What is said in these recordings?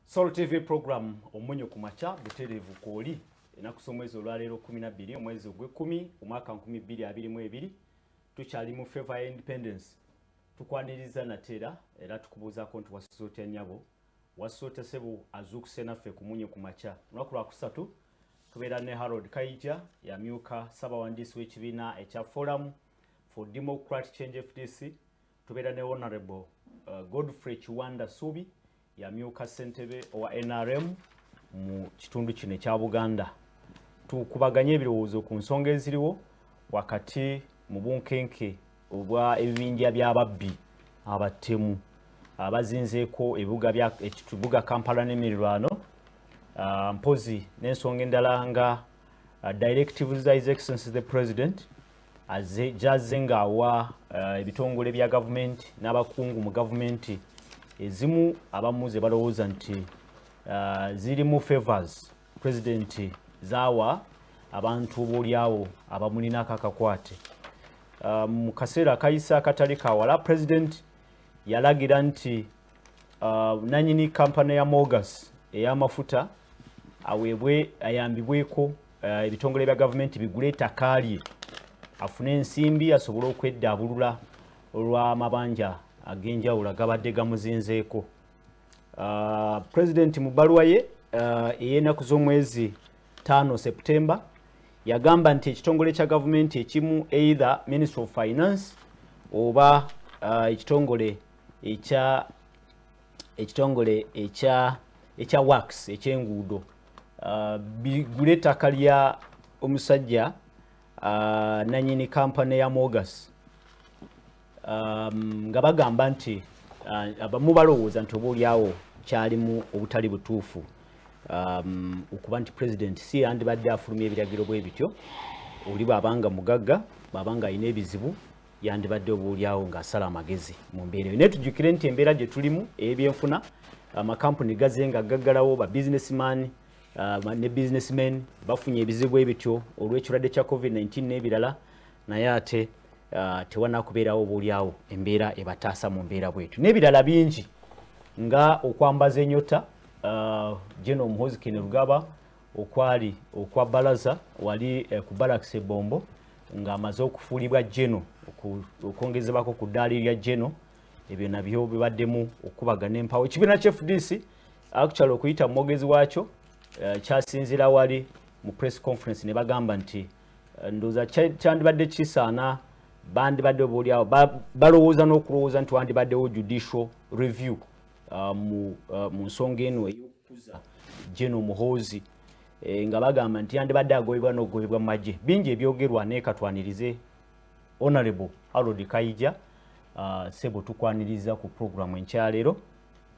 Soul TV program omunyo ku makya butereevu kwoli enaku z'omwezi olwaleero 12 omwezi ogw'ekkumi omwaka 2022 tukyali mu favor ya independence tukwaniriza nateera era tukubuuzaako nti wasuze otya nyabo wasuze otya sebo azuukuse naffe ku munyo ku makya olunaku lwakusatu tubeera ne harold kaija yamyuka ssabawandiisi w'ekibiina ekya forum for democratic change fdc Tubeera ne Honorable uh, Godfrey Kiwanda Subi yamyuka ssentebe owa NRM mu kitundu kino ekya Buganda. Tukubaganye ebirowoozo ku nsonga eziriwo wakati mu bunkenke obwa ebibinja by'ababbi abatemu abazinzeeko ebibuga bya ekibuga Kampala n'emirirwano uh, mpozi n'ensonga endala nga uh, directives za His Excellency the President azze gyazze ng'awa eh, ebitongole bya gavumenti n'abakungu mu gavumenti ezimu abamu ze balowooza nti eh, zirimu favors pulezidenti zaawa abantu oboolyawo abamulinako akakwate eh, mu kaseera akayise akatali kawala pulezidenti yalagira nti uh, nanyini kampani ya mogas eyamafuta aweebwe ayambibweko uh, ebitongole bya gavumenti bigule ettaka lye afune ensimbi asobole okweddaabulula olw'amabanja ag'enjawulo agabadde gamuzinzeeko uh, pulezidenti mu bbaluwa ye uh, ey'enaku z'omwezi 5 septemba yagamba nti ekitongole kya gavumenti ekimu either ministry of finance oba uh, ekitongole ekya ekitongole ekya ekya wax ekyenguudo uh, bigule ettaka lya omusajja uh, nanyini kampani ya mogas um, nga bagamba nti uh, abamu balowooza nti obaolyawo kyalimu obutali butuufu um, okuba nti president si yandibadde afulumya ebiragiro bwe bityo oli bwabanga mugagga bwabanga alina ebizibu yandibadde obuulyawo ng'asala amagezi mu mbeera eyo naye tujjukire nti embeera gye tulimu ey'ebyenfuna amakampuni gaze nga gaggalawo ba businessman uh, ne businessmen bafunye ebizibu ebityo olw'ekirwadde kya covid-19 n'ebirala naye ate uh, tewanakubeerawo obuulyawo embeera ebataasa mu mbeera bwetu n'ebirala bingi nga okwambaza enyota uh, geno omuhozi kenerugaba okwali okwa balaza wali eh, ku balakisi ebombo ng'amaze okufuulibwa geno okwongezebwako ku ddaali lya geno ebyo nabyo bibaddemu okukubagana empawo ekibiina kya fdc actual okuyita mu mwogezi waakyo eh, kyasinzira wali mu press conference ne bagamba nti eh, ndooza kyandibadde kisaana bandibadde obaolyawo balowooza n'okulowooza nti wandibaddewo judicial review uh, mu, uh, mu nsonga eno eyokukuza geno muhoozi e, nga bagamba nti yandibadde agobebwa nogobebwa mumagye bingi ebyogerwa naye katwanirize honorable harold kaija uh, sebo tukwaniriza ku programu enkyaleero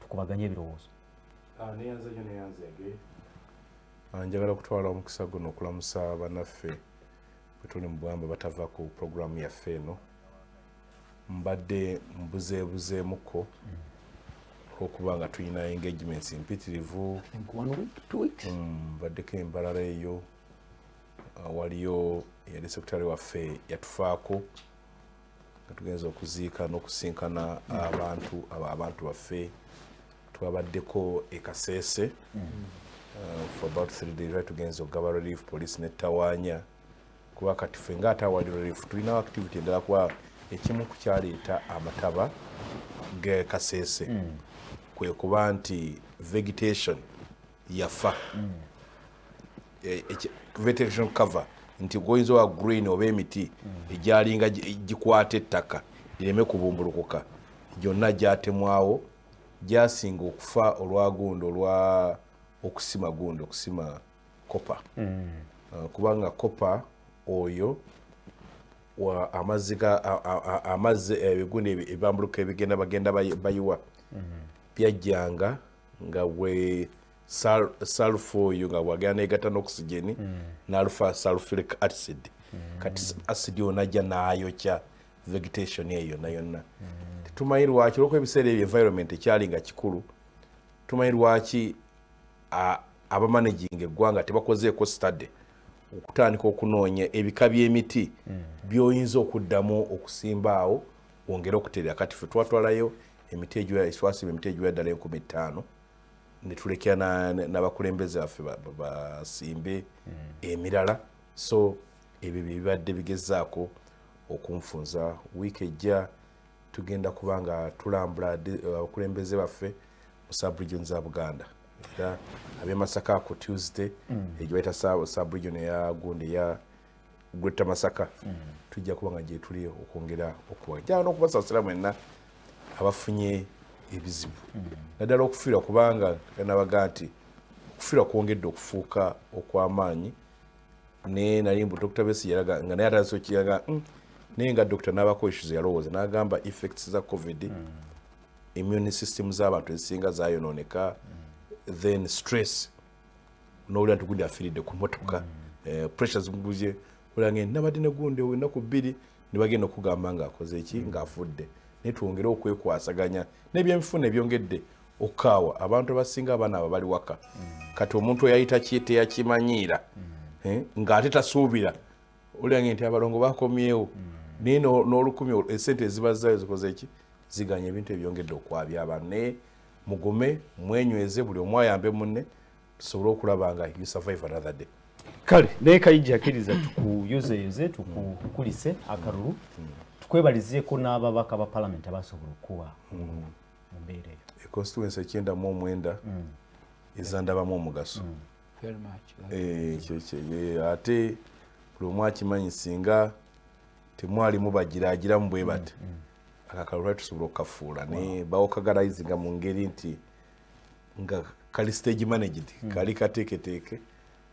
tukubaganye ebirowoozo ah, ah, njagala okutwala omukisa guno okulamusa banaffe bwetuli mu bwamba batava ku programu yaffe eno mbadde mbuzeebuzeemuko olwokuba nga tulina engagements mpitirivu mm, mbaddeko embalala eyo uh, waliyo eyali sekutale waffe yatufaako nga tugenza okuziika n'okusinkana abantu abo abantu baffe twabaddeko ekaseese mm. uh, for about three days tugenza okugaba relief police netawaanya mm. kuba kati ffe nga ate awali relief tulinawo activity endala kuba ekimu ku kyaleeta amataba ge kasese mm. kwe kuba nti vegetation yafa mm. e, vegetation cover nti goyinza owa green oba emiti mm. egyalinga gikwata ettaka lireme kubumbulukuka gyonna gyatemwawo gyasinga okufa olwagundo olwa okusima gundi okusima kopa mm. uh, kubanga kopa oyo amazzi ebiguni eh, ebambuluka ebigenda bagenda bayiwa mm. byajjanga nga we salfa oyo nga wagenda negata n'okusigeni mm. nalufa salfilic acid kati acid yo najja nayokya vegetation eyo yonna yonna tetumanyi lwaki olwokuba ebiseera ebyo environment ekyali nga kikulu tumanyi lwaki abamanaginga eggwanga tebakozeeko study okutandika okunoonya ebika by'emiti hmm. byoyinza okuddamu okusimbaawo wongere okuterera kati fe twatwalayo emiti egitwasiba emiti egiwa ddala enkumi ttaano netulekera n'abakulembeze baffe basimbe hmm. emirala so ebyo byebibadde bigezaako okunfunza wiiki ejja tugenda kuba nga tulambula uh, abakulembeze baffe mu subregion za buganda era abemasaka ku tuesday mm. egyo baita subregion eya gundi eya gwetta masaka mm. tujja kuba nga gyetuli okwongera okuwa jaa nokubasasira mwenna abafunye ebizibu mm. naddala okufiirwa kubanga nabaga nti okufiirwa kwongedde okufuuka okw'amaanyi naye nali mbu dr besi yalaga nga naye atandise okiraga mm. naye nga dr nabako issues yalowooza nagamba effects za covid mm. immune system z'abantu ezisinga zayononeka mm. then stress nowulira nti gundi afiiridde ku motoka mm. eh, pressure zimuguzye olange nabadde negundi enaku bbiri nebagenda okugamba ngaakoze eki mm. ngaafudde naye twongere okwekwasaganya nebyemifuna ebyongedde okukaawa abantu abasinga abaana abo bali waka mm. kati omuntu eyayita teyakimanyiira mm. eh, ng'ate tasuubira oliange nti abalongo bakomyewo mm. naye n'olukumi esente ezibazayo zikoze ki ziganya ebintu ebyongedde okwabya abantu naye mugume mwenyweze buli omu ayambe munne tusobole okulaba nga you survive another day kale naye kayijja akkiriza tukuyuzeyuze tukukulise akalulu tukwebalizeeko n'ababaka ba palamenti abasobola okukuwa mu mbeera eyo e constituency ekyenda mu omwenda mm. ezandabamu omugaso mm. eh, ekyo eh, ate buli omu akimanyi singa temwalimu bagiragiramu bwe bati mm, akakalo lwali tusobola okukafuula naye bawokagalayizinga mu ngeri nti nga kali stage managed kali kateeketeeke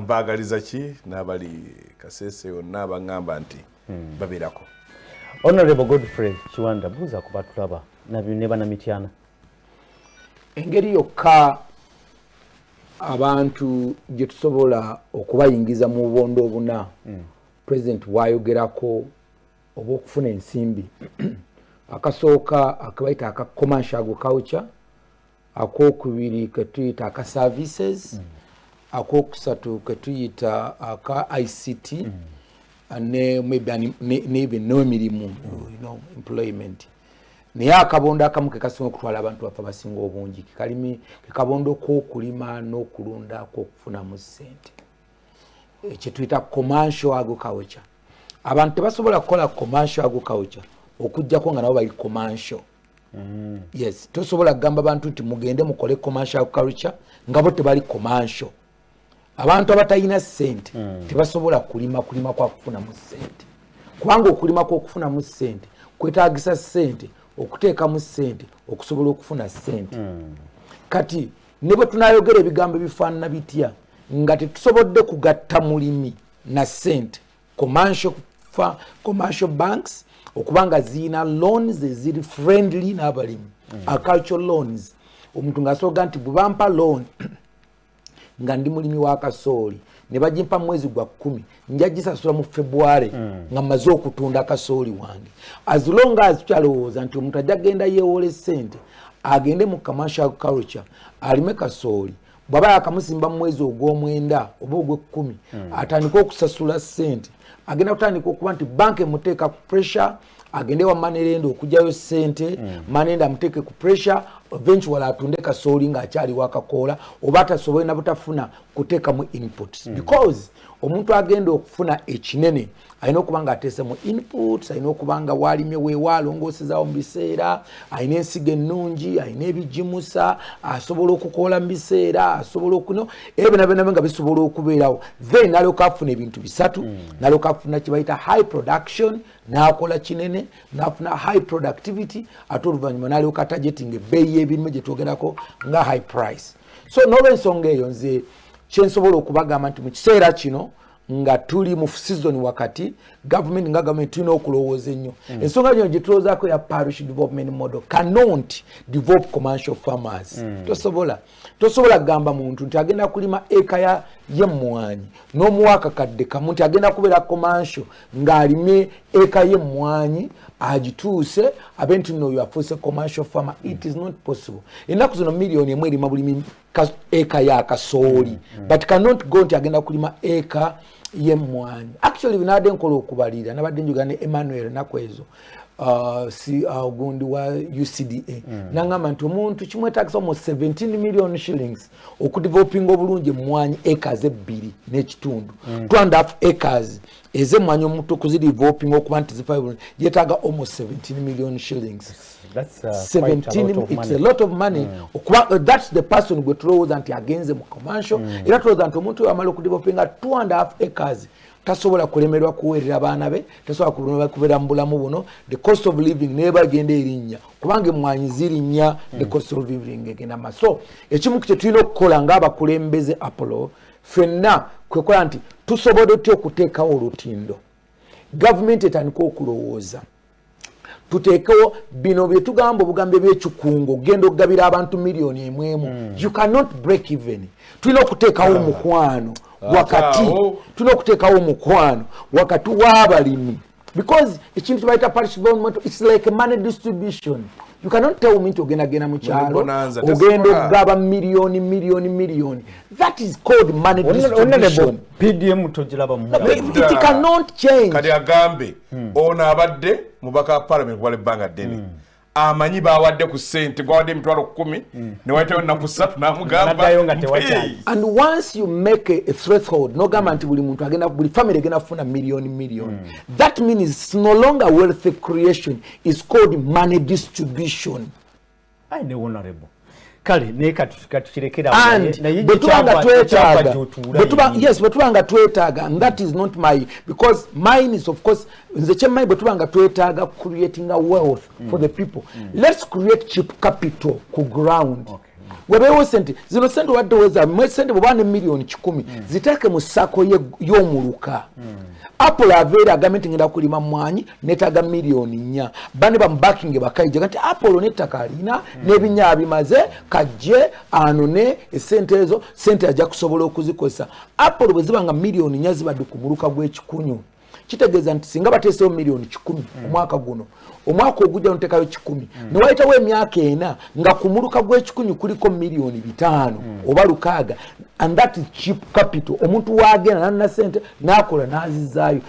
mbaagaliza ki n'abali kasese yonna baŋŋamba nti hmm. babeerako honorable godfrey kiwanda buuza ku batulaba ne banamityana engeri yokka abantu gye tusobola okubayingiza mu bubondo obuna hmm. pulezidenti bwayogerako oba okufuna ensimbi akasooka akabaita aka commercial agriculture akokubiri ketuyita aka services mm. akokusatu ketuyita aka ict mm. ne maybe maybe no mirimu you know employment naye akabondo akamu kekasinga okutwala abantu baffe abasinga obungi kekalimi kekabondo kokulima nokulunda kokufunamu sente kyetuyita commercial agriculture abantu tebasobola kukola commercial agriculture okujjako nga nabo bali commercial mm. yes tosobola kugamba bantu nti mugende mukole commercial culture nga bo tebali commercial abantu abatalina sente mm. tebasobola kulima kulima kwa kufunamu sente kubanga okulima kwokufunamu sente kwetagisa sente okuteekamu sente okusobola okufuna sente mm. kati ne bwe tunayogera ebigambo ebifaanana bitya nga tetusobodde kugatta mulimi na sente commercial, commercial banks okuba nga zirina loans eziri friendly n'abalimi mm. agricultural loans omuntu ng'asooka nti bwebampa loan nga ndi mulimi wa kasooli ne bagimpa mwezi gwa kkumi nja gisasula mu february mm. nga mmaze okutunda kasooli wange as long as tukyalowooza nti omuntu ajja genda yeewole ssente agende mu commercial culture alime kasooli bwaba yakamusimba mumwezi ogwomwenda oba ogwekkumi hmm. atandika okusasula sente agenda kutandika okuba nti banka emuteeka ku pressure agende wa manerenda okujayo sente hmm. manenda amuteeke ku pressure eventual atunde kasooli ngaakyali wakakoola oba atasobole nabutafuna kuteekamu inputs hmm. because omuntu agenda okufuna ekinene alina okuba nga ateese mu inputs alina okuba nga waalimye weewa alongoosezaawo mu biseera alina ensigo ennungi alina ebigimusa asobola okukoola mu biseera asobola okuno ebyo byona byona nga bisobola okubeerawo then nalyoka afuna ebintu bisatu mm. nalyoka afuna kyebayita high production nakola kinene nafuna high productivity ate oluvannyuma nalyoka tajetinga ebbeeyi y'ebirime gye twogerako nga high price so nolwensonga eyo nze kyensobola okubagamba nti mu kiseera kino nga tuli mu season wakati government nga government tulina okulowooza ennyo mm. ensonga mm. yino gyetulowoozaako ya parish development model cannot develop commercial farmers mm. tosobola tosobola kugamba muntu nti agenda kulima eka ya yemmwanyi n'omuwaaka kadde kamu nti agenda kubeera commercial ng'alime eka yemmwanyi agituuse abe nti nooyo afuuse commercial farmer it is not possible ennaku zino millioni emu erima buli eka ya kasooli mm, mm. but cannot go nti agenda kulima eka yemwanyi actually binabadde nkola okubalira nabadde njogera ne emmanuel naku ezo uh, si uh, ogundi uh, wa ucda mm. nangamba nti omuntu kimwetagisa omu 17 million shillings okudevelopinga obulungi emwanyi acres ebbiri n'ekitundu mm. two and half acres eze mwanya omuto kuzirivopinga okuba nti zifa yetaga almost 17 million shillings that's, uh, 17 it's a lot of money mm. okuba uh, that's the person gwe tulowooza nti agenze mu commercial mm. era tulowooza nti omuntu amala okudivopinga two and half acres tasobola kulemerwa kuweerera baana be tasobola kulemerwa kubeera mu bulamu buno the cost of living neba agenda erinnya kubanga emwanyi zirinnya the cost of living egenda maso ekimu kyetulina okukola ngaabakulembeze apollo fenna kwekola nti tusobode otya okuteekawo olutindo gavumenti etandika okulowooza tuteekewo bino byetugamba obugambo ebyekikungo ogenda okugabira abantu miliyoni emwemu hmm. you cannot break even tulina okuteekawo omukwano wakati tulina okuteekawo omukwano wakati w'abalimi because ekintu kyebayita parish bond moto its like money distribution you cannot tell me nti ogenda genda mu kyalo ogenda okugaba miliyoni miliyoni miliyoni that is called money distribution pdm togiraba mu it cannot change kati agambe hmm. ono abadde mubaka wa parliament kubala ebbanga ddene hmm. amanyi bawadde ku sente gwawadde emitwalo kumi mm. newayitawo ennaku satu namugambanogamba nti buli muntu agenda buli famiry egenda kufuna million million mm. that means no longer wealthy creation is called money distribution kale naye katukirekera bwetuba nga twetaaga and that is not my because mine is of course nze kyemmanyi bwetuba nga twetaaga creating a wealth mm. for the people mm. let's create cheap capital ku ground okay. webeewo sente zino sente obadde weza mwe sente bweba ne millioni kikumi mm. ziteeke mu sako y'omuluka mm. apple aveera agambe nti ngenda kulima mwanyi netaga miliyoni nnya bane bamubakinge bakaija kati apolo nettaka alina hmm. nebinya abimaze kajje anone esente ezo sente ajja kusobola okuzikozesa apolo bwe ziba nga miliyoni nnya zibadde ku muluka gw'ekikunyu kitegeeza nti singa bateesewo miliyoni kikumi hmm. omwaka guno omwaka ogujja notekayo kikumi hmm. newayitawo emyaka ena nga ku muluka gw'ekikunyu kuliko miliyoni bitaano oba lukaaga and that is cheap capital omuntu waagenda nanona sente n'akola n'azizaayo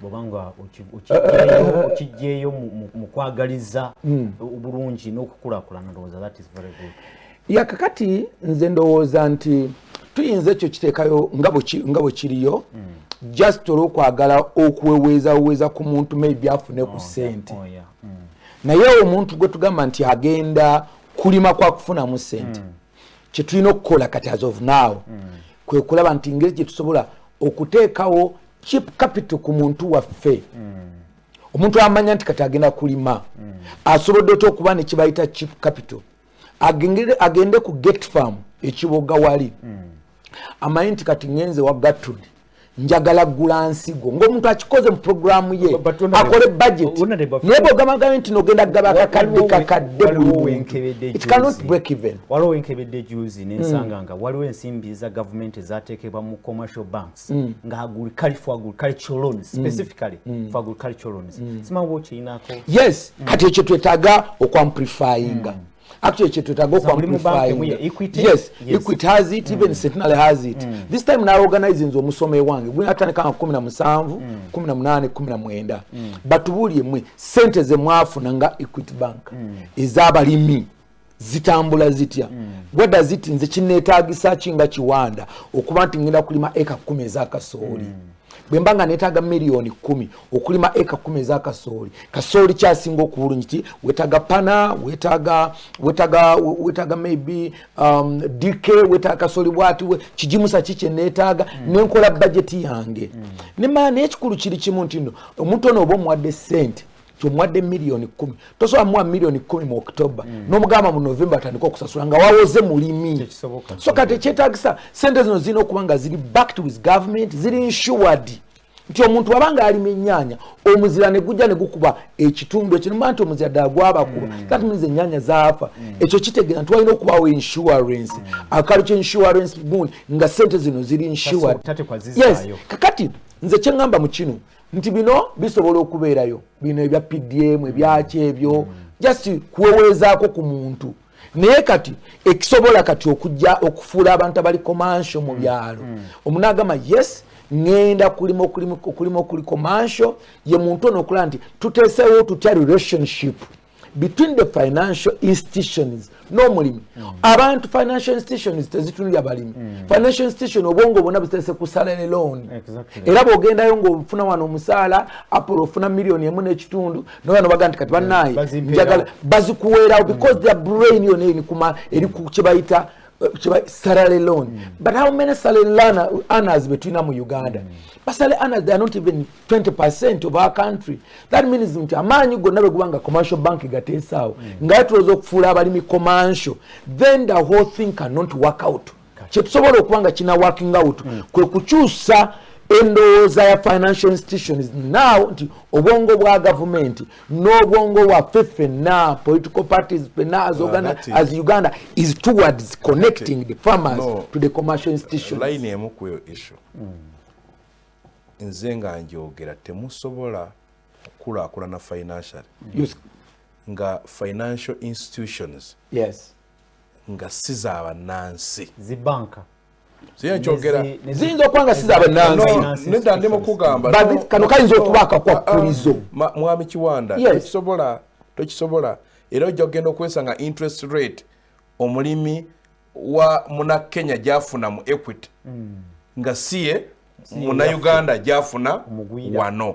bwoba nga okijjeeyo mu kwagaliza hmm. obulungi n'okukulakulana ndowooza that is very good ya kakati nze ndowooza nti tuyinza ekyo kiteekayo nga bwe kiriyo hmm. just olwokwagala okuweweezaweweza ku muntu maybe afune ku oh, sente oh, hmm. naye omuntu gwe tugamba nti agenda kulima kwakufunamu sente mm. kyetulina okukola kati as of now mm. kwekulaba nti ngeri gyetusobola okuteekawo chip capital ku muntu waffe mm. omuntu amanya nti kati agenda kulima mm. asobodde otya okuba nekibayita chip capital agende ku gate farm ekiboga wali mm. amanyi nti kati ngenze wa gatudi njagala gula nsigo ngaomuntu akikoze mu programu ye akole budget naye bwogamagabe nti nogenda gaba kakadde kakadde waliwo wenkebedde juzi nensanga nga waliwo ensimbi za gavumenti ezatekebwa mu commercial banks mm. nga agriculture for agricultural loans mm. specifically mm. for agricultural loans simangu okiyinako yes kati ekyo twetaga okwamplifyinga actually kyetwetaaga okwamplifyingyes equity has it even mm. centenary has it mm. this time naorganize nze omusoma ewange gwinatandika nga kumi na musanvu mm. kumi na munaane kumi na mwenda batubuulire mwe sente zemwafuna nga equity bank ez'abalimi zitambula zitya weda ziti nze kineetagisa ki nga kiwanda okuba nti ngenda kulima eka kumi ez'akasooli mm. bwe mba nga neetaaga miliyoni kumi okulima eka kumi eza kasooli kasooli kyasinga okubulungi ti wetaaga pana wetaaga wetaaga wetaaga maybe um, dk wetaaga kasooli bwati kigimusa ki kyeneetaaga mm. nenkola bajeti yange mm. nema naye ekikulu kiri kimu nti no omuntu ono oba omuwadde sente kyomuwadde miliyoni kumi tosobola muwa miliyoni kumi mu october mm. nomugamba mu november atandika okusasula nga wawoze mulimi so kati ekyetagisa sente zino zirina okuba nga ziri backed with government ziri insured nti omuntu waba nga alima enyanya omuzira negujja negukuba ekitundu ekinuma nti omuzira ddala gwabakuba mm. that means enyanya zaafa mm. ekyo kitegeera nti walina okubawo insurance mm. akalu kye insurance bund nga sente zino ziri insured yes kakati nze kyeŋamba mu kino mm. nti bino bisobola okubeerayo bino ebya pdm ebyaki ebyo just kuweweezaako ku muntu naye kati ekisobola kati okujja okufuula abantu abali komansho mu byalo mm. omunagamba yes ngenda kulima okulima okuli komansho ye muntu ono okulaba nti tuteesewo tutya relationship between the financial institutions n'omulimi mm. abantu financial institutions tezitunulya balimi mm. financial institution obwongo bwona butese kusalele loan era bwogendayo ngaofuna wano omusaala apolo ofuna millioni emu n'ekitundu naye no baga nti kati banaye njagala bazikuweerawo mm. because their brain yona eri ku kyebayita salary loan mm. but how many salary learner, earners between them uganda mm. but salary earners they are not even 20 percent of our country that means nti amaanyi gonna bwegubanga commercial bank gateesaawo mm. nga yatulooza okufuula abalimi commercial then the whole thing cannot work out kyetusobola okuba nga kina working out mm. kwe kukyusa endowooza ya financial institutions now nti obwongo bwa gavumenti n'obwongo waffe ffenna political parties ffenna as, uh, as uganda is towards connecting the farmers no, to the commercial institutions line emu ku eyo issue mm. nze nga njogera temusobola kukulaakulana financially mm. nga financial institutions yes. nga si za bannansi zibanka ziyinza okuba nga siza bannansinedda ndi mukugamba kano kayinza okuba akakwakkulizo ah, ah, mwami kiwanda tokisobola tokisobola era ojja kugenda okwesa nga interest rate omulimi wa muna kenya gyafuna mu equity hmm. nga siye munauganda gyafuna wano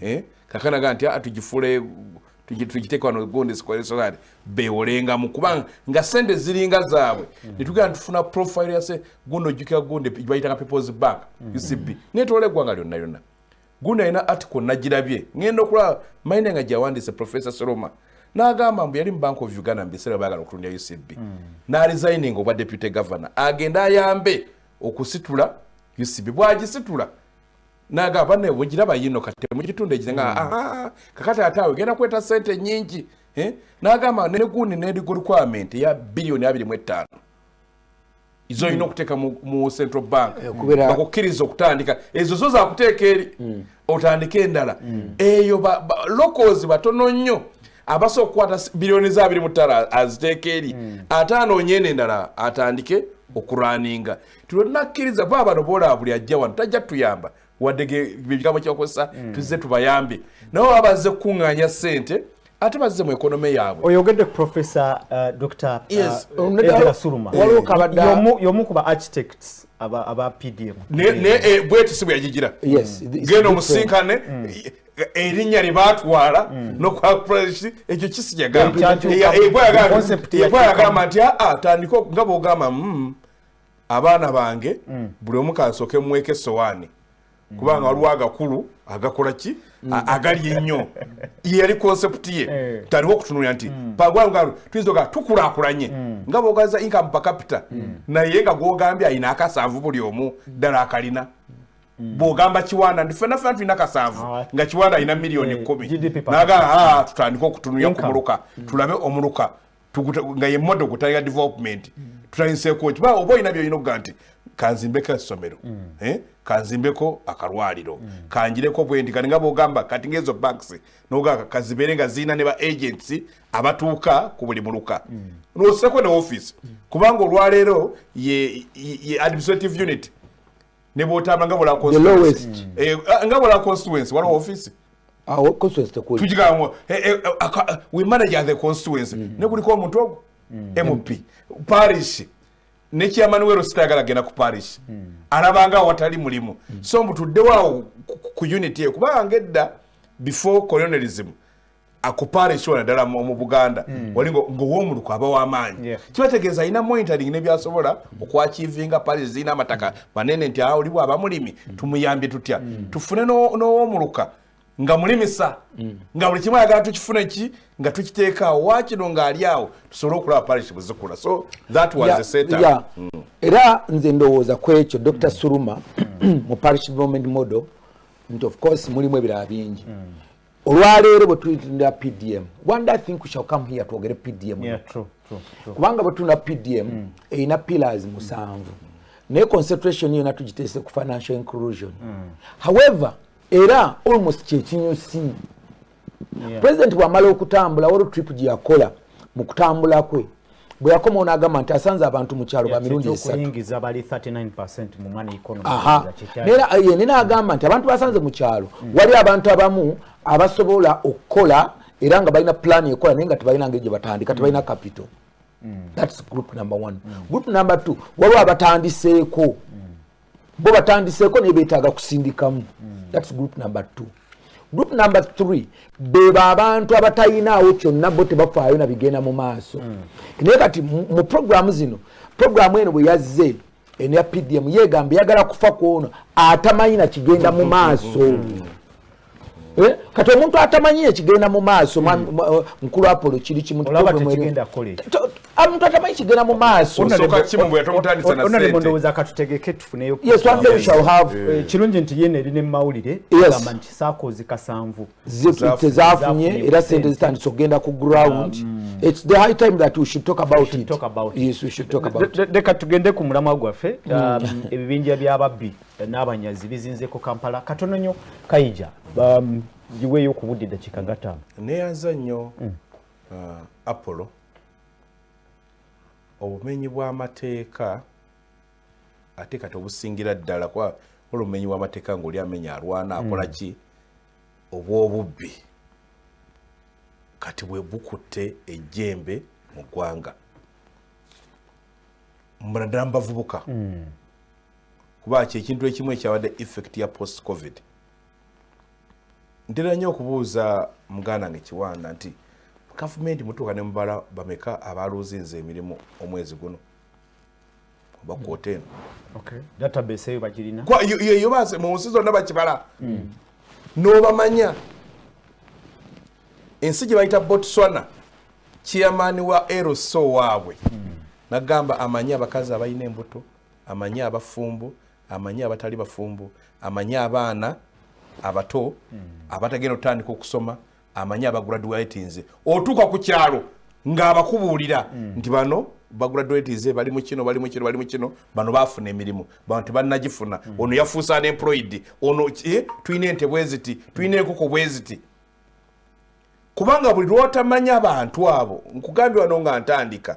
eh? kakana ga nti ah, tugifule tugiteeka wano gondesoali bewolengamu kubanga nga sente ziringa zaabwe mm. netugenda tufuna profile yase guno ojjukira gonde bayitanga peoples bank mm. ucb netwala eggwanga lyonna lyonna guno alina article nagirabye ngenda okulaba maine nga gyawandiise professor soloma nagamba mbu yali mu bank of uganda mubiseera bagala okutundira ucb mm. naresigning obwa deputy governor agende ayambe okusitula ucb bwagisitula naga bane bujira bayino kati mukitunde ekizenga mm. ah, ah, ah kakati atawe genda kweta sente nyingi eh nagamba ne gundi ne requirement ya billion 2.5 izo mm. ino kuteka mu, mu central bank eh, kubera bakukiriza okutandika ezo zo za kuteka eri mm. otandike endala mm. eyo ba, ba, locals batono nnyo abaso kwata billion za 2.5 aziteka eri mm. atano nyene ndala atandike okuraninga tunakkiriza kuba bano boolaba buli ajja wano tajja tuyamba wadde ebigambo kyakozesa hmm. tuzze tubayambe nawe baba bazze kukuŋŋaanya ssente ate bazze mu ekonome yaabwe oyogedde professor uh, dr uh, suluma yomu kuba architects aba pdm naye eh, bweti si bweyagigira genda omusinkane hmm. erinnya lye baatwala hmm. nokwapulesi ekyo kisi yagamba yagamba nti atandika nga bwogamba abaana bange mm. buli omu kansoke mweke sowaani kubanga mm. waliwo agakulu agakola ki mm. agali ennyo yeyali konsepti ye eh. taliwo okutunulira nti mm. pagwalugalo tuyinza oga tukulakulanye nga bogaza income per capita naye nga gwogambye alina akasanvu buli omu ddala akalina bwogamba kiwanda nti fena fena tulina kasanvu ah. nga kiwanda alina miliyoni eh, kumi nagala ah, tutandike okutunulira ku muluka tulabe omuluka nga ye modo kutaya development mm. tutayinseeko ki baa oba olina byolina okuga nti kanzimbeko essomero mm. eh? kanzimbeko akalwaliro mm. kanjireko bwendi kati nga bwogamba kati ngaezo banks nogaka kazibeere nga zirina ne ba agents abatuuka ku buli muluka noseko ne office kubanga olwaleero ye administrative unit ne bwotamba nga bula constituency eh, eh, nga bula constituency wala office awo ah, constituency tekuli tujiga mu eh, we manage the constituency mm-hmm. ne kuliko omuntu ogo mm-hmm. mp parish ne chairman wero sitagala gena ku parish mm-hmm. arabanga watali mulimu so mutudde wawo ku unity kuba angedda before colonialism akupaala ekiwona ddala mu buganda hmm. oli ngaowomuluku aba wamaanyi kibategeeza alina monitoring nebyasobola okwakivinga pale zirina amataka manene nti awo olibwa abamulimi hmm. tumuyambye tutya hmm. tufune n'owomuluka nga mulimisa nga buli kimu ayagala tukifune ki nga tukiteekaawo wakino ng'ali awo tusobole okulaba parish buzikula so that was yeah, set up yeah. mm. era nze ndowooza ku ekyo dr mm. suruma mu parish development model nti of course mulimu ebirala bingi mm. olwaleero bwe tulitunda pdm one day think shall come here twogere pdm yeah, true, true, true. kubanga bwe tulina pdm mm. erina pillars musanvu mm. naye concentration yona tugiteese ku financial inclusion mm. however era almost kyekinyusi yeah. president bwamala okutambula waliwo trip gyeyakola mu kutambula kwe bwe yakomawo n'agamba nti asanze abantu mu kyalo ba mirundi esatunayene n'agamba nti abantu basanze mu kyalo mm. wali abantu abamu abasobola okukola era nga balina pulaani ekola naye nga tebalina ngeri gye batandika tebalina kapito mm. thats group number one mm. group number two waliwo abatandiseeko bo batandiseeko naye betaaga kusindikamu hmm. thats group number two group number three bebo abantu abatayinaawo kyonna bo tebafaayo na bigenda mu maaso hmm. naye kati mu programu zino programu eno bwe yazze eno ya pdm yegamba eyagala kufa kwono atamanyi na kigenda mu maaso hmm. Eh? kati omuntu atamanyi ekigenda mu maaso hmm. eh, mukulu apolo kiri kimuomuntu atamanyi kigenda mu maasoondowooza katutegeke tufuneyokirungi eh, nti yena eri nemumawulire gamba nti sakoozi kasanvu tezafunye era sente zitandise okugenda ku ground um, leka tugende ku mulamwa gwaffe hmm. um, ebibinja byababbi n'abanyazi bizinzeeko kampala katono nyo kayija um, giweeyo ku budde eddakiika nga ttaano neyanza nnyo mm. uh, apollo obumenyi bw'amateeka ate kati obusingira ddala kuba ola obumenyi bw'amateeka ngaoli amenya alwana mm. akola ki obw'obubbi kati bwe bukutte ejjembe mu ggwanga naddala mu bavubuka mm. kuba kyekintu ekimu ekyabadde effect ya post covid ntera nnyo okubuuza muganda nge kiwanda nti gavumenti mutuuka ne mubala bameka abaluuzinza emirimu omwezi guno oba kwota eno mu nsi zonna bakibala hmm. n'obamanya ensi gye bayita botswana chairman wa lso waabwe hmm. nagamba amanyi abakazi abalina embuto amanyi abafumbo amanyi abatali bafumbo amanyi abaana abato mm. abatagenda otandika okusoma amanyi abagraduatinze otuuka ku kyalo ng'abakubuulira mm. nti bano bagraduatinze bali mu kino bali mu kino bali mu kino bano baafuna emirimu bano tebannagifuna mm. ono yafuusa unemployed ono eh, tulina ente bweziti tulina enkoko bweziti kubanga buli lwotamanya abantu abo nkugambye wano nga ntandika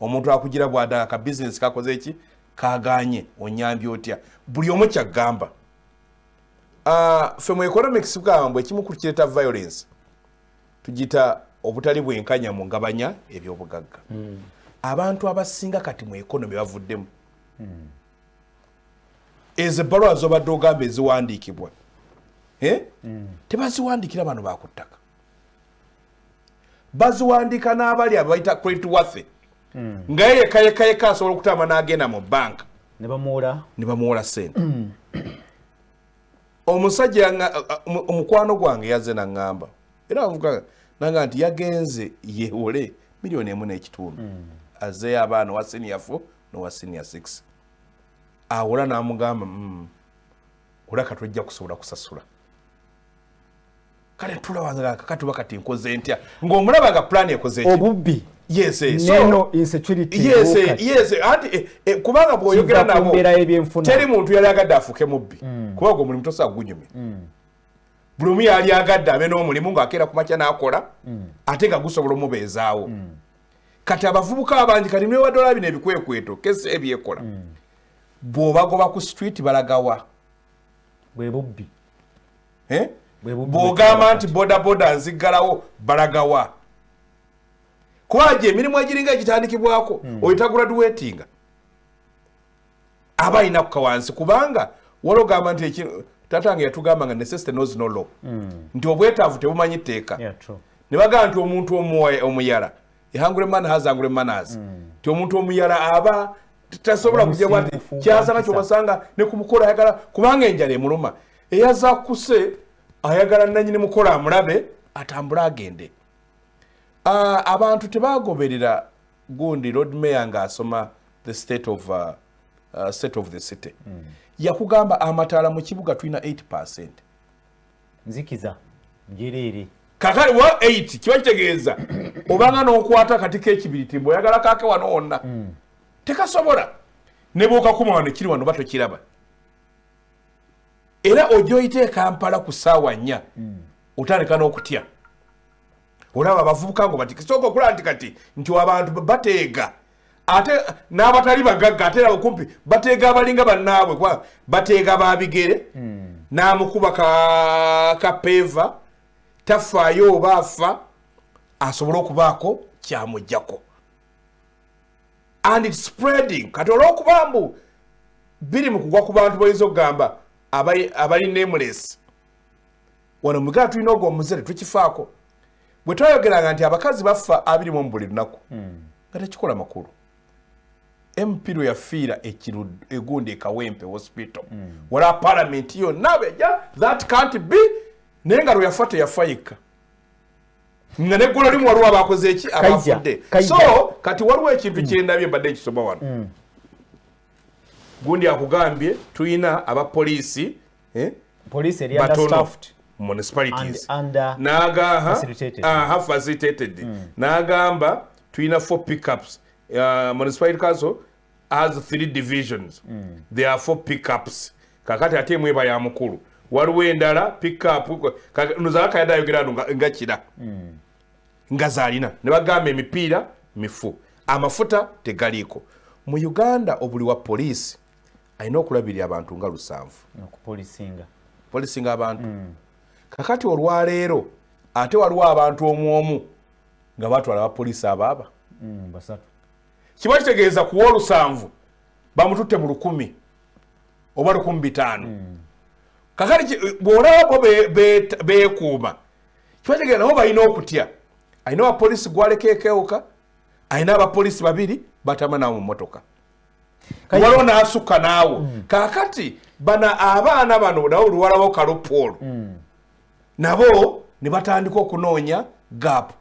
omuntu akugira bwada ka business kakoze eki kaganye onyambye otya buli omu kyagamba ah, fe mu economics bwambwe ekimu ku kireta violence tugita obutali bwenkanya mu ngabanya ebyobugagga hmm. abantu abasinga kati mu economy bavuddemu hmm. ezo ebbaluwa zobadde ogamba eziwandiikibwa eh? hmm. tebaziwandiikira bano bakuttaka baziwandiika n'abali abo bayita credit wathe hmm. nga ye yekayekayeka asobola okutamba n'agenda mu banka ne bamuwola sente hmm. omusajja omukwano gwange yazze naŋŋamba era avuga nanga nti yagenze yewole miliyoni emu n'ekitundu hmm. azeeyo abaana owa siniya fo nowa siniya six awola n'amugamba olaka tojja kusobola kusasula kale tulawangaa kakati oba kati nkoze ntya ng'omulaba nga plan ekoze obubbi yes eh, so neno insecurity yes eh, yes eh, ati eh, eh, kubanga bwoyogera nabo kumbera ebyenfuna teri muntu yali agadde afuke mubbi mm. kubanga omulimu tosa gunyumya mm. buli omu yali agadde abe n'omulimu ng'akeera ku makya n'akola mm. ate nga gusobola omubeezaawo mm. kati abavubuka abangi kati niwe wadola bino ebikwekweto kesi ebyekola mm. bw'obagoba ku street balagawa bwe bubbi eh? bwogamba nti bodaboda nziggalawo balagawa kwaje emirimu egiringa egitandikibwako hmm. oyitaguraduwetinga aba alina kukawansi kubanga walogamba nti tatange yatugamba nga necessity knows no law hmm. nti obwetaavu tebumanyi tteeka ne bagamba nti omuntu omuyala ehangure man has angure manners mm. ti omuntu omuyala aba tasobola kujja bwati kyasana kyobasanga ne kumukola ayagala kubanga enjala emuluma eyaza kuse ayagala nanyini mukola amulabe atambule agende uh, abantu tebagoberera gundi lord mayor nga asoma the state of uh, uh, state of the city mm. yakugamba amataala mu kibuga tulina 8 percent nzikiza njereere kakale wa 8 kiba kitegeeza obanga n'okwata kati kekibiriti mbu oyagala kake wano wonna mm. tekasobola ne bwokakuma wano kiri wano oba tokiraba era ojja oyita ekampala ku saawa nnya mm. otandika n'okutya olaba abavubuka ngo bati kisooka okulaba nti kati nti abantu bateega ate n'abatali bagagga ate abo kumpi bateega abalinga bannaabwe kuba bateega ba bigere hmm. n'amukuba kapeeva tafaayo oba afa asobole okubaako kyamugjako and spreading kati olwokuba mbu biri mu kugwa ku bantu bayinza okugamba abali nameless wano mugala tulina ogwo omuzere tukifaako bwe twayogeranga nti abakazi bafa abiri mu buli lunaku hmm. nga tekikola makulu mp lwe yafiira egundi ekawempe hospital hmm. wala palamenti yonna beja that can't be naye nga lwe yafa teyafa yekka nga neggolo limu waliwo abakoze eki abafudde so kati waliwo ekintu hmm. kyendabye mbadde ekisoma wano gundi akugambye tulina abapoliisi eh? police eri under staffed municipalities nagaha aha facilitated mm. nagamba tulina four pickups uh, municipality council has three divisions mm. there are four pickups kakati ate mweba ya mukulu waliwo endala pickup nozalaka yadde ayogera no nga kira mm. nga zalina ne bagamba emipiira mifu amafuta tegaliiko mu uganda obuli wa poliisi alina okulabirira abantu nga lusanvu okupolisinga polisinga abantu mm. kakati olwaleero ate waliwo abantu omu omu nga batwala abapoliisi abaaba mm, basatu kiba kitegeeza kuwa olusanvu bamututte mu lukumi oba lukumi bitaano mm. kakati bwolababo beekuuma kiba kitegeeza nabo balina okutya alina abapoliisi gwaleka ekewuka alina abapoliisi babiri batama nawo mu motoka waliwo n'asukka naawo mm. kaakati bana abaana bano nabo luwalawo kalopoolo mm. nabo ne batandika okunoonya gaapu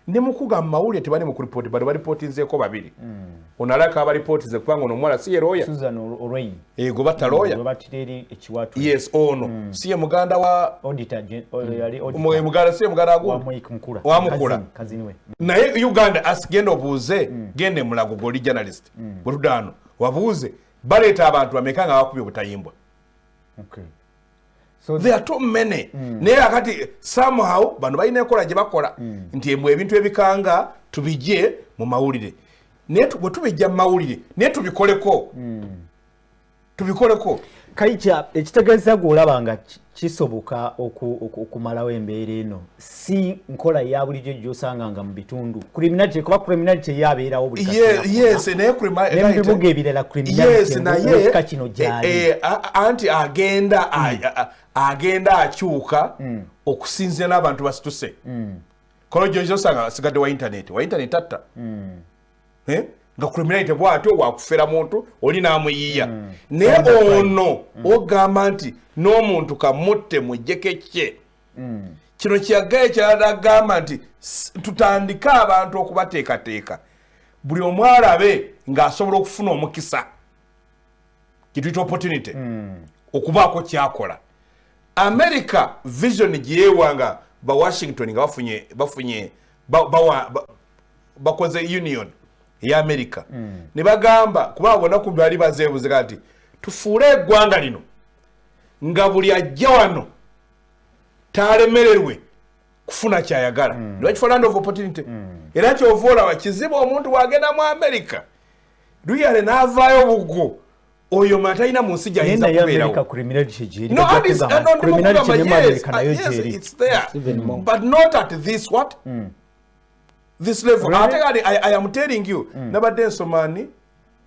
ne mukuga mu mawulire tebali mu kuripooti bano balipootinzeeko babiri mm. ono alaka abalipootize kubanga ono omuwala si ye looya ego batta looya yes ono si ye muganda wa muganda si ye muganda agundi wamukula naye uganda asigenda obuuze genda emulago goli journalist mm. bwetudaano wabuuze baleeta abantu bameka nga bakubye obutayimbwa okay. so there are too many mm. naye akati somehow bano balina enkola gye bakola mm. nti embwe ebintu ebikanga tubijje mu mawulire naye bwe tubijja mu mawulire naye tubikoleko mm. tubikoleko kaija ekitegeeza gweolaba nga kisoboka okumalawo embeera eno si nkola ya bulijjo gyosanga nga mu bitundu criminality kuba criminality eyo abeerawo bulibibuga ebirala criminalityka kino eh, gyali eh, anti agenda hmm. agenda akyuka hmm. okusinzira n'abantu basituse hmm. kolo gyozosanga asigadde wa intaneti wa intaneti atta eh? nga criminality bwatyo wakufera muntu oli namuyiya mm. naye ono mm. ogamba nti n'omuntu kamutte mujjeko ekye mm. kino kyaga ekyalagamba nti tutandike abantu okubateekateeka buli omwalabe ng'asobola okufuna omukisa kituyita opportunity mm. okubaako kyakola america vision gyeyewa nga ba washington nga bafunye bafunye bakoze union eya america mm. ne bagamba kuba bona ku bali bazeebuze kati tufuule eggwanga lino nga buli ajja wano talemererwe kufuna kyayagala mm. era kyova olaba kizibu omuntu wagenda mu america luyale n'avaayo buggo oyo mwe atalina mu nsi gyayinza kubeerabut not at this what mm. this level really? ate kale I, i am telling you mm. nabadde nsomani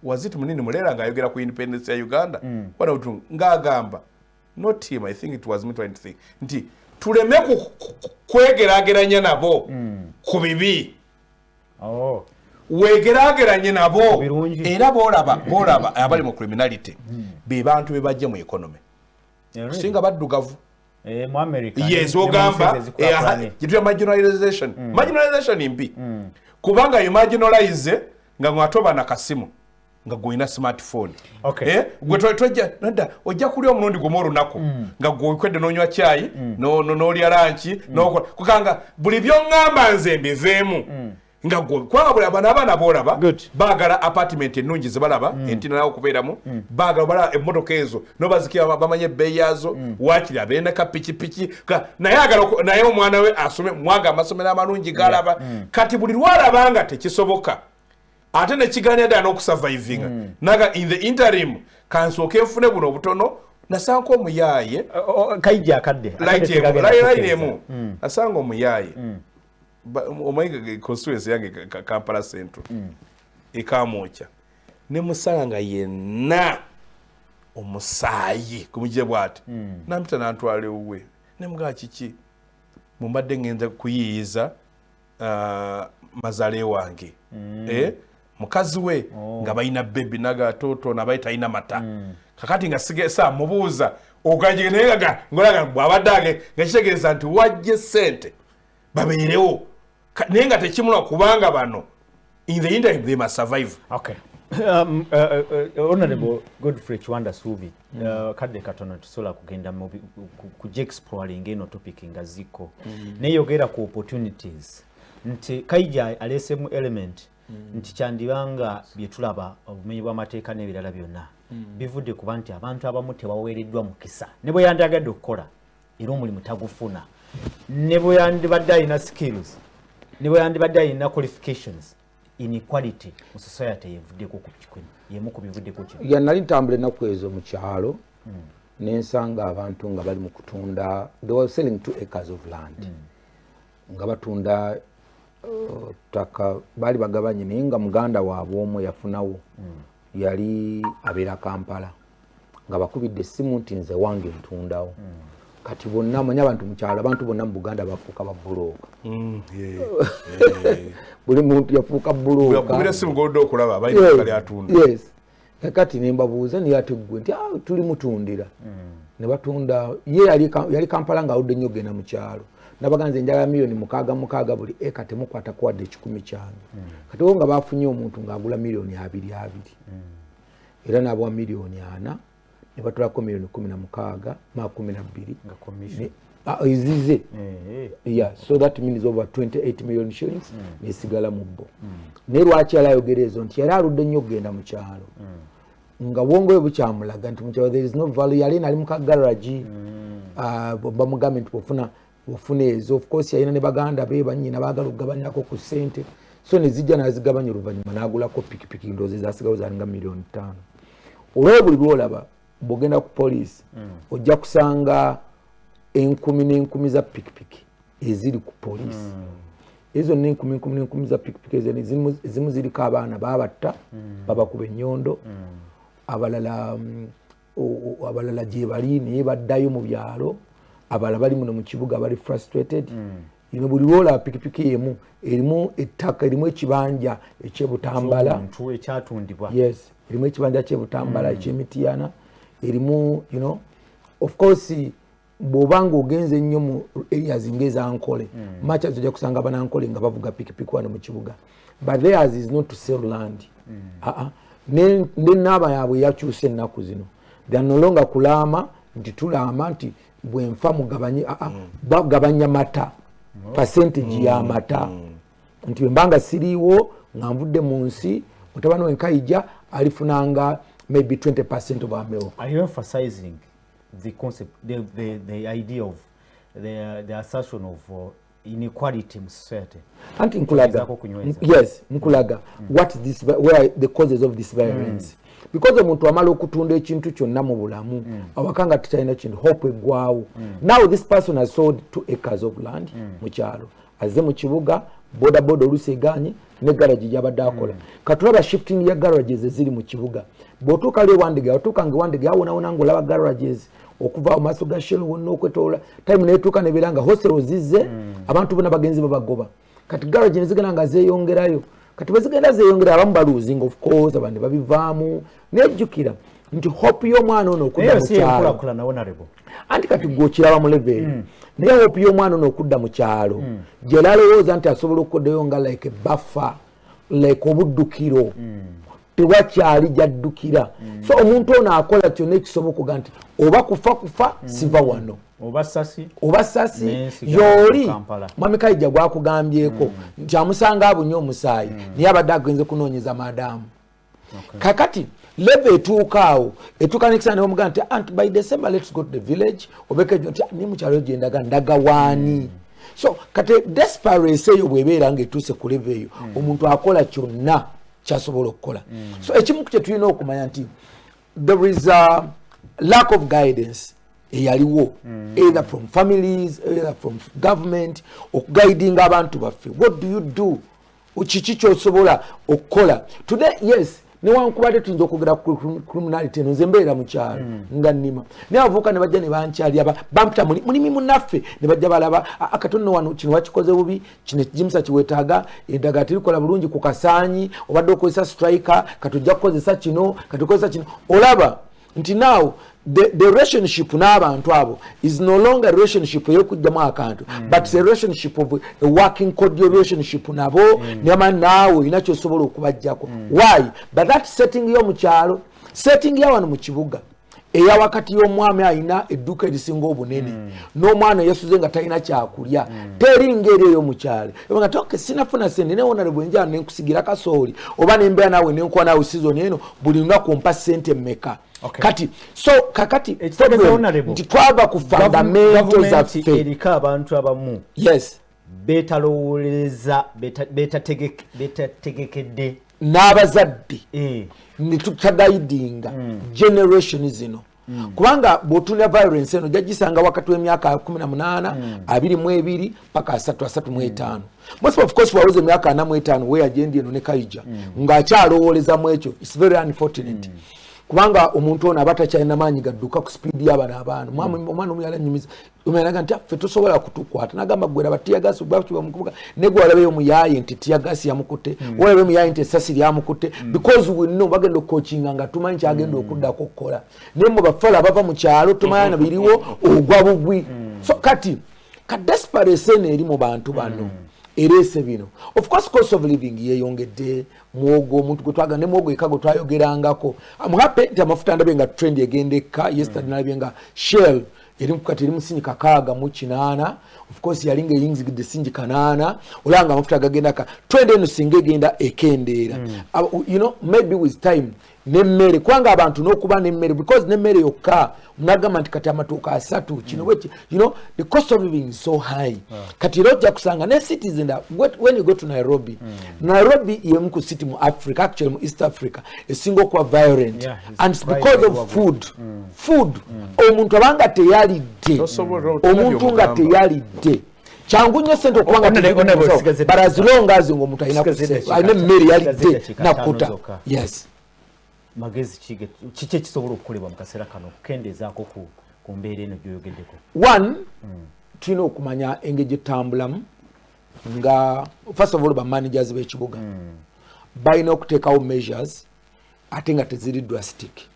wazit munini mulera ngaayogera ku independence ya uganda mm. wanabutu ngaagamba not him i think it was me trying to think nti tuleme kwegerageranya nabo mm. ku bibi oh. wegerageranye nabo era bolaba bolaba abali mu criminality hmm. be bantu be bajje mu economy eh, singa baddugavu eh, yes ogamba gituya eh, marginalization hmm. marginalization mbi hmm. kubanga you marginalize nga ng'ate oba nakasimu nga gwolina smartphone okay. eh? gwe tojja nadda ojja kulya omulundi gumu olunaku mm. nga gwekwedde nonywa kyayi mm. nolya lanki mm. nokola kukanga buli byoŋŋamba nze mbizeemu mm. nga gwe kwabula bano abaana boolaba baagala apartment ennungi zebalaba mm. entinawo okubeeramu mm. baagala balaba emmotoka ezo nobazikira bamanye ebbeeyi yaazo mm. wakiri abeena ka pikipiki naye agala naye omwana we asome mwaga amasomero amalungi galaba mm. kati buli lwalaba nga tekisoboka ate nekiganira ddala n'okusavaivinga mm. naga in the interim kansooke nfune buno obutono nasanga omuyaaye kaija akadde line emu mm. nasanga omuyaaye mm. omanyi constituency yange kampala central mm. ekamwokya nemusala nga yenna omusaayi kumuje bwati mm. nampita nantwala ewuwe nemugaa kiki mumbadde ngenza kuyiiyiza uh, mazale wange mm. eh? mukazi we oh. nga balina bebi nagatoto nabaye talina mata mm. kakati nga sigesa mubuuza ogajige naye nga ngolaga bwabadde age nga kitegeeza nti wajje sente babeerewo naye nga tekimula kubanga bano in the interim they must survive okay um, uh, uh, uh, honorable mm. godfrey kiwanda suubi mm. uh, kadde katono tusobola kugenda kujexploringa eno topic nga zikko mm. neyogera ku opportunities nti kaija aleesemu element mm. nti kyandibanga byetulaba obumenyi bw'amateeka n'ebirala byonna mm. bivudde kuba nti abantu abamu tebaweereddwa mukisa ne bwe yandagadde okukola era omulimu tagufuna ne bwe yandibadde alina skills ne bwe yandibadde alina qualifications inequality mu society yevuddeko ku kikwe yemu ku bivuddeko kino ya nali ntambula ennaku ezo mu kyalo mm. nensanga abantu nga bali mu kutunda they were selling two acres of land mm. nga batunda uh, ttaka uh, baali bagabanye naye nga muganda waabwe omu yafunawo mm. yali abeera kampala nga bakubidde essimu nti nze wange ntundawo mm. kati bonna amanyi abantu mukyalo abantu bonna mu buganda bafuuka babulooka mm, buli muntu yafuuka bulookaes kakati nembabuuza naye ate gwe nti ah, tuli mutundira mm. ne batunda ye yali kampala nga awudde nnyo genda mu kyalo nabaga nze njagala miliyoni mukaaga mukaaga buli eka temukwata kuwadde ekikumi kyange mm. kati wo nga bafunye omuntu ng'agula miliyoni abiri abiri era n'abawa miliyoni ana ne batulako miliyoni kumi na mukaaga maa kumi na bbiri ezize ah, eh, eh. yeah so that means over 28 million shillings mm. nesigala mu bo mm. naye lwaki yali ayogera ezo nti yali aludde nnyo okugenda mu kyalo mm. nga bwongoyo bukyamulaga nti mukyalo there is no value yali nali mu kagaragi mm. uh, bamugambye nti bwofuna ofuna ezo of course yalina ne baganda be banyina baagala okugabanyako ku ssente so ne zijja n'azigabanya oluvannyuma n'agulako pikipiki ndoozi zaasigawo zalinga miliyoni ttaano olwao buli lwolaba bwogenda ku poliisi mm. ojja kusanga enkumi n'enkumi za pikipiki eziri ku poliisi mm. ezo zonna enkumi enkumi n'enkumi za pikipiki ezimu ziriko abaana babatta mm. babakuba ennyondo abalala abalala gyebali naye baddayo mu byalo abalala bali muno mu kibuga bali frustrated mm. ino buli lwola pikipiki emu erimu ettaka erimu ekibanja ekyebutambala yes erimu ekibanja kyebutambala mm. ekyemitiyana erimu you know of course bwoba nga ogenze ennyo mu areas nga ezankole mm. macha ojja kusanga banankole nga bavuga pikipiki wano mu kibuga but theirs is not to sell land mm. uh -uh. ne, ne naaba yaabwe yakyusa ennaku zino theynolonga kulaama nti tulaama nti bwenfa mugabanye uh -uh. mm. bagabanya mata mm. percentage mm. ya mata mm. nti wembanga siriiwo nga nvudde mu nsi mutabani wenkaija alifunanga maybe 20 percent of ameo Are you emphasizing? the concept, the, the, the idea of the, the assertion of uh, inequality in society. Anti nkulaga, yes, nkulaga, mm. what this, where the causes of this violence. Mm. Because omuntu amala okutunda ekintu kyonna mu bulamu mm. awaka nga tekyalina kintu hope eggwawo mm. now this person has sold two acres of land mm. mu kyalo azze mu kibuga bodaboda oluusi egaanye ne garagi gyabadde akola hmm. katulaba shifting ya garages eziri mu kibuga bwotuuka lwe wandege watuuka nga wandege awonawona nga olaba garages okuva mu maaso ga shell wonna okwetoola time netuuka nebeera nga hostel ozizze hmm. abantu bona bagenzi babagoba kati garage nezigenda nga zeyongerayo kati bwezigenda zeyongera abamu baluzinga of course abandi babivaamu naye jjukira nti hope y'omwana ono okudda mukyalo anti kati gwe okiraba mu leveri hmm. naye hope y'omwana ono okudda mu kyalo hmm. gyela alowooza nti asobola okukodayo nga like buffer like obuddukiro hmm. tewakyali gyaddukira so omuntu ono akola kyonna ekisobokoga nti oba kufa kufa siva wano oba sasi yooli mwami kaija gwakugambyeko nti amusanga abunye omusaayi naye abadde agenze kunoonyeza madamu okay. kakati leva etuuka awo etuuka nekisana nebamugaa nti ant by december lets go to the village obekejo nti ah, ni mukyalo gyendaga ndaga waani mm. so kati desperance eyo bwebeera nga etuuse ku leva eyo mm. omuntu akola kyonna kyasobola okukola mm. so ekimu kyetulina okumanya nti there is a lack of guidance eyaliwo mm. either from families either from government okuguidinga abantu baffe what do you do kiki kyosobola okukola today yes newankubadde tuyinza okwogera criminality eno nze mbeera mukyalo mm. nga nnima naye abavuuka ne bajja ne bankyali aba bampita mulimi munaffe ne bajja balaba akatonno wano kino wakikoze bubi kino ekijimusa kiwetaaga eddagala terikola bulungi ku kasaanyi obadde okozesa strike katujja kukozesa kino katukozesa kino olaba nti now the, the relationship n'abantu abo is no longer relationship eyokujjamu akantu mm. but the relationship of a working cordial relationship nabo mm. nema naawe olina kyosobola okubajjako mm. why but that setting yo mukyalo setting yawano mu kibuga eya wakati y'omwami alina edduuka erisinga obunene mm. n'omwana yasuze nga talina kyakulya mm. teri ngeri eyo mukyalo ebanga toke sinafuna sente newonale bwenjala nenkusigira kasooli oba nembeera naawe nenkuwa naawe sizoni eno buli lunaku ompa sente meka okay. kati so kakati nti twava ku fundamento zaffe eriko abantu abamu yes betalowolereza betategekedde beta n'abazadde eh. ne tutagayidinga mm. generation zino Mm. kubanga bwotunda violence eno jajisanga wakati wemyaka 18 mm. abiri mu ebiri paka asatu asatu mu etaano mm. most of course waweza emyaka ana mu etaano weya jendi eno ne kaija mm. ng'akyalowooleza mu ekyo its very unfortunate mm. kubanga omuntu ono aba takyalina maanyi gadduka ku sipiidi y'abana abaana omwana omuyala nyumiza umeraga nti affe tosobola kutukwata nagamba gwera batiyagasi gwakiba mukubuga ne gwalabeyo muyaye nti tiyagasi yamukute mm. walabeyo muyaye nti esasi lyamukute mm. because we know bagenda okukochinga nga tumanyi kyagenda mm. okudda kukola naye mu bafala bava mu kyalo tumanya na biriwo mm. ogwa bugwi mm. so kati ka desperate eno eri mu bantu bano mm. ereese bino of course cost of living yeyongedde mwogo omuntu gwe twagala ne mwogo eka gwe twayogerangako am happy nti amafuta ndabe nga trend egenda ekka yesterday mm. nalabye nga shell yali kati eri musinji kakaaga mu kinaana ofcourse yali nga eyingizigidde sinji kanaana olaba nga amafuta agagenda ka twende eno singa egenda ekendeera mm. uh, you know maybe with time nemmere kubanga abantu nokuba nemmere because nemmere yokka munagamba nti kati amatuuka asatu mm. kino bweki you know the cost of living is so high ah. kati era ojja kusanga ne cities in when you go to nairobi mm. nairobi yemu ku city mu africa actually mu east africa esinga okuba violent yeah, and because of food mm. food mm. omuntu abanga teyalidde omuntu nga teyalidde kyangu nnyo sente okubangabarazilongazi nga omuntu alina emmere yalidde nakuta yes magezi kiki ekisobola okukolebwa mu kaseera kano okukendeezaako ku ku mbeera eno gyoyogeddeko one mm. tulina okumanya engeri gyetambulamu nga first of all bamanagers b'ekibuga mm. balina okuteekawo measures ate nga teziri drastic mm.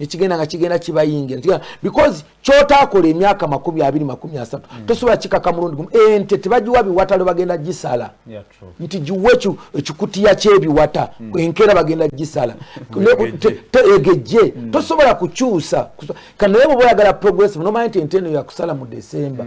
nekigenda nga kigenda kibayingira because kyotaakola emyaka makumi abiri makumi asatu mm. tosobola kikaka mulundi gumu ente tebagiwa biwata lwe bagenda gisala nti giwe ekikutiya kyebiwata mm. enkeera bagenda gisala egejje mm. tosobola kukyusa kanaye bwoba oyagala progressive nomanya nti ente eno yakusala mu december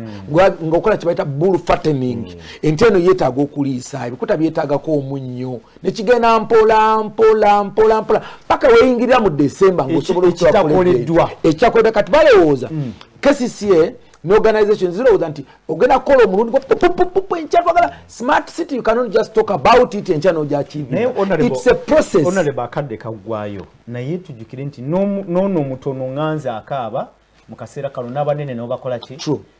ngaokola kyebayita bull fattening ente eno yetaaga okuliisa ebikuta byetaagako omunnyo nekigenda mpola mpola mpola mpola paka weyingirira mu december ngaosobola ekitakoleddwa ekyakoledwa kati balowooza mm. kcca ne organization zirowooza nti ogenda kukola omulundi gwapupupupu enkya twagala smart city you cannot just talk about it enkya nojakivits a process onaleba akadde kaggwayo naye tujukire nti noono omutono nganze akaaba mu kaseera kano n'abanene nobakola ki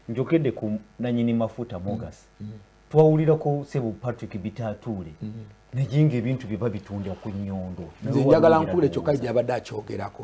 njogedde ku nanyini mafuta mogas mm. mm. twawulira ko sebo patrick bitatuule mm. naye nga ebintu bye babitunda ku nyondo nze njagala nkubule kyokka gyabadde akyogerako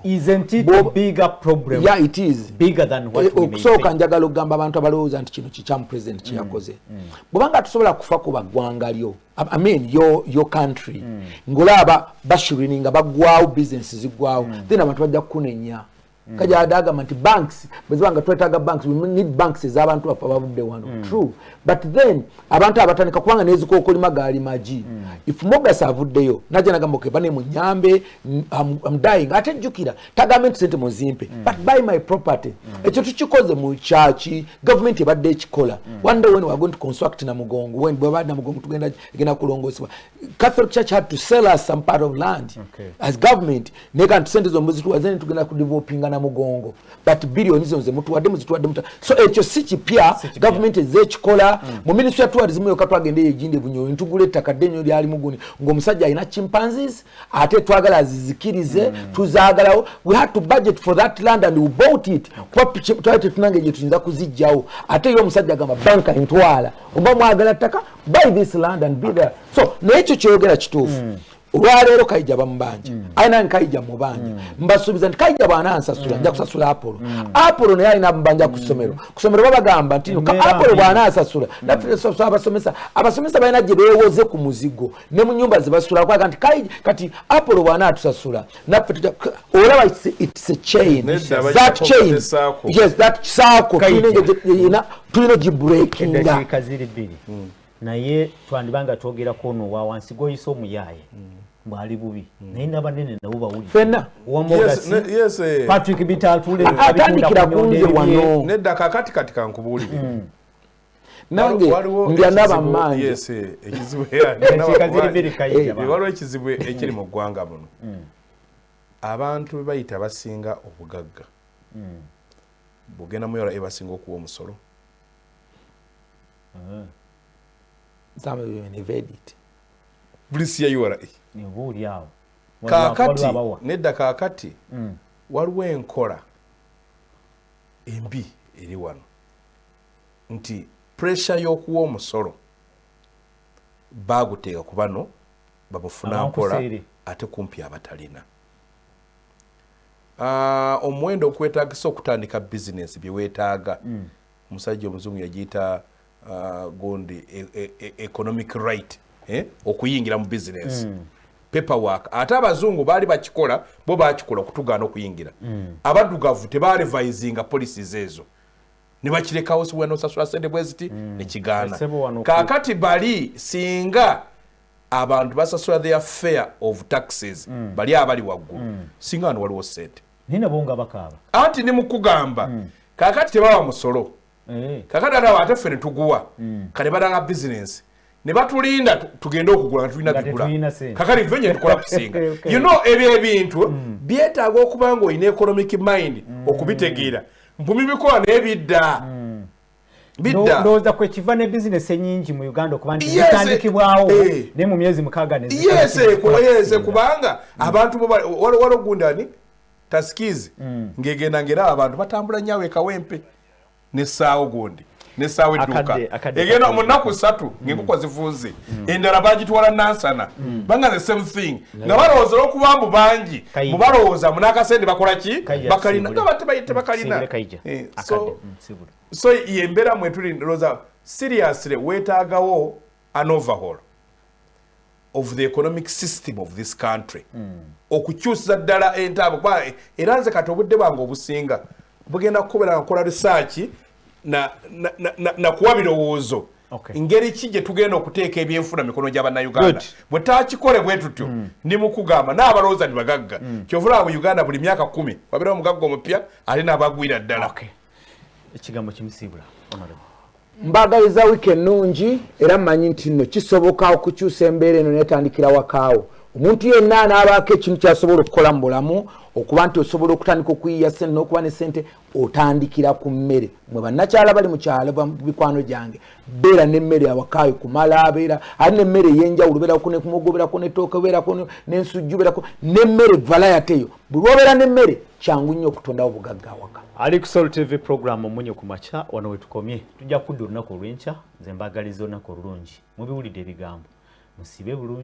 okusooka njagala okugamba abantu abalowooza nti kino kikyamu president kyeyakoze mm, mm. bwebanga tusobola kufa ku baggwanga lyo amen yo, yo country mm. ngolaba bashirini nga baggwawo bisinesi ziggwawo then abantu bajja kukunenya mm. kaja adagamba nti banks bwezibanga twetaga banks we need banks ezabantu baffe abavudde wano mm. true but then abantu abatandika kubanga nezikokolima gaali magi mm. if mogas avuddeyo naja nagamba ke bane munyambe I'm, I'm dying ate jjukira tagambe nti sente muzimpe mm. but buy my property mm. ekyo tukikoze mu kyaki gavumenti ebadde ekikola mm. one day when we are going to construct na mugongo when bweba na mugongo tugenda egenda kulongosebwa catholic church had to sell us some part of land okay. as government naye kanti sente zo muzituwaze ne tugenda kudevelopinga na mugongo but biliyoni zino zemutuwadde muzituwadde muta so ekyo si kipya gavumenti ezze ekikola mm. mu ministry ya tourism yoka twagenda eyo ejinde bunyonyi ntugula ettaka dde nyo lyali muguni ng'omusajja alina chimpanzes ate twagala azizikirize mm. tuzaagalawo we had to budget for that land and we bought it kuba twali tetunange gye tuyinza kuzijjawo ate yo omusajja agamba banka ntwala oba mwagala ttaka buy this land and be there so naye ekyo kyoyogera kituufu mm. olwaleero kaija bamubanja mm. aye nange kaija mubanja mm. mbasuubiza nti kaija bwanansasula mm. nja kusasula apolo mm. apolo naye alina mubanja ku ssomero mm. ku ssomero babagamba nti mm. apolo bwanasasula mm. nafesasula abasomesa abasomesa balina gye bewoze ku muzigo ne mu nyumba zebasula kwaga nti kaija kati apolo bwanatusasula naffe tuja olaba its a chain that chain yes that saako tulina gye breakinga naye twandiba nga twogera ku ono wa wansi gw'oyise omuyaaye mm. bwali bubi mm. naye n'abanene nabo bawuli fena wamogasi eh. patrick bitatule ah, atandikira kunze wano nedda kakati kati kankubuulire mm. nange ndya n'abamaanyi eh, eh, waliwo ekizibu ekiri mu ggwanga muno abantu bebayita basinga obugagga bugenda muyala ebasinga okuwa omusolo mm. some of them never edit please ya ura nyobo uli awo kakati nedda kakati mm. waliwo enkola embi eri wano nti puresha y'okuwa omusolo baaguteeka ku bano babufuna nkola ate kumpi abatalina ah, omuwendo okwetagisa okutandika bizinesi byewetaaga mm. omusajja omuzungu yagiyita uh, gundi e, e, e, economic right eh? okuyingira mu bizinesi mm. paperwork ate abazungu baali bakikola bo bakikola okutugaana okuyingira mm. abadugavu tebalevisinga policies ezo nebakirekawo siwena osasula sente bweziti mm. nekigaana kakati bali singa abantu basasula their fair of taxes mm. bali abali waggulu mm. singa wano waliwo sente naye nabo nga bakaaba anti ni mukugamba mm. kakati tebawa musolo eh. kakati adawa ate ffe netuguwa mm. kati badanga bizinensi ne batulinda tugende okugula nga tulina bigula kakati ffe nye tukola kusinga okay. you know ebyo ebintu mm. byetaaga okuba nga olina economic mind mm. okubitegeera mpumi bikola naye bidda mm. ndowooza kwe kiva ne bizinesi enyingi mu uganda okuba nti zitandikibwawo eh. naye mu myezi mukaaga neyeese eh, kubanga mm. abantu waliwo ogundani tasikiizi mm. ng'egenda ng'era abantu batambula nnyo awekawempe n'essaawo gundi n'essaawo edduuka egenda mu nnaku ssatu mm. ng'enkoko zifunze endala bagitwala nansana banga the same thing nga balowooza olwokuba mbu bangi mu balowooza mu n'akasente bakola ki bakalina nga batebayite bakalina eh, so yembera mwetuli ndoza seriously wetagawo an overhaul of the economic system of this country mm. okukyusiza ddala entaabo kuba era nze kati obudde bwange obusinga bugenda kukubera nga nkola risaaki na, na, na, na, na kuwa birowoozo okay. ngeri ki gye tugenda okuteeka ebyenfuna mikono gya bannayuganda bwe takikole bwe tutyo mm. ni mukugamba n'abalowooza ni bagagga mm. kyovulaba mu uganda buli myaka kumi wabeerawo omugagga omupya ate n'abagwira ddala okay. ekigambo kimusiibula mbagaliza wiiki ennungi era mmanyi nti nno kisoboka okukyusa embeera eno netandikira wakaawo omuntu yenna anaabaako ekintu kyasobola okukola mu bulamu okuba nti osobola okutandika okuyiya sente n'okuba ne sente otandikira ku mmere mwe bannakyala bali mu kyalo mikwano gyange beera n'emmere awakaayo kumala abeera ali n'emmere ey'enjawulo beerako nekumugoberako netooke beerako n'ensujju beerako n'emmere valayateyo buli obeera n'emmere kyangu nnyo okutondawo obugagga awaka ali ku sol tv program omunyo ku makya wano wetukomye tujja kudda olunaku olwenkya nze mbagaliza olunaku olulungi mubiwulidde ebigambo musibe bulungi